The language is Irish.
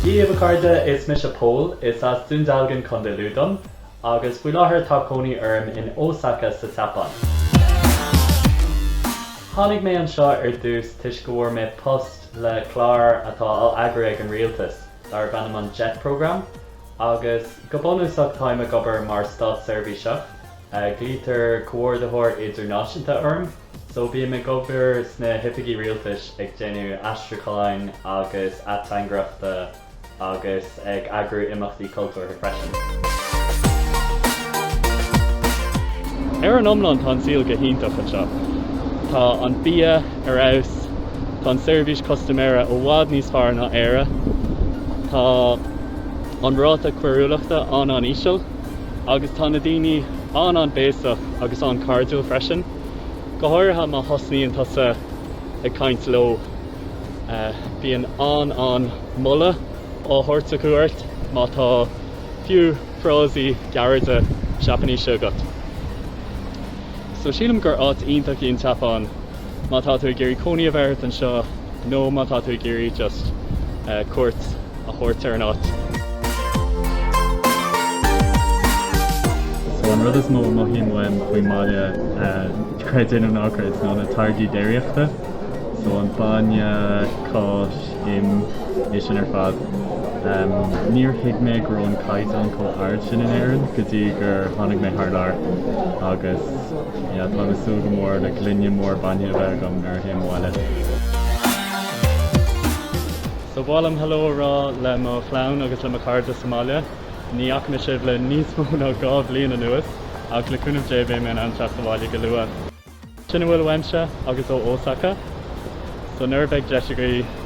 Dia daoibh a chairde, is mise Pól, is as Dún Dealgan, Contae Lú dom, agus faoi láthair tá cónaí orm in Osaka sa tSeapáin. Tháinig mé anseo ar dtús toisc go bhfuair mé post le clár atá á eagrú ag an rialtas, darb ainm an JET Programme, agus go bunúsach táim ag obair mar státseirbhíseach. Glaoitear Comhordaitheoir Idirnáisiúnta orm, só bím ag obair sna hoifigí rialtais ag déanamh aistriúcháin agus ateangaireachta agus ag eagrú imeachtaí cultúrtha freisin. Ar an iomlán tá an saol go hiontach anseo. Tá an bia ar fheabhas, tá an seirbhís custaiméara i bhfad níos fearr ná Éire, tá an ráta coiriúlachta an-an-íseal, agus tá na daoine an-an-béasach agus an-chairdiúil freisin, go háirithe má thosnaíonn tusa ag caint leo, bíonn an-an-mholadh á thabhairt acu ort má tá fiú frásaí gearra Seapáinise agat. So sílim gur áit iontach í an tSeapáin. Má tá tú ag iarraidh cónaí a bheith ort anseo, nó má tá tú ag iarraidh just cuairt a thabhairt ar an áit. An rud is mó a mothaím uaim faoin mbaile, creid é nó ná creid, ná na táirgí déiríochta. So an bainne, cáis, im, é sin ar fad. Níor thuig mé go raibh an caighdeán chomh ard sin in Éirinn go dtí gur tháinig mé thar lear agus, Yeah, tá mé ag súil go mór le gloine mór bainne a bheith agam nuair a théim abhaile. So ba mhaith liom hello a rá le mo chlann agus le mo chairde sa mbaile. Ní fhaca mé sibh le níos mó ná dhá bhliain anuas, ach le cúnamh Dé beidh mé in ann teacht abhaile go luath. Sin a bhfuil uaimse agus ó Osaka, so nuair a bheidh deis agaibh,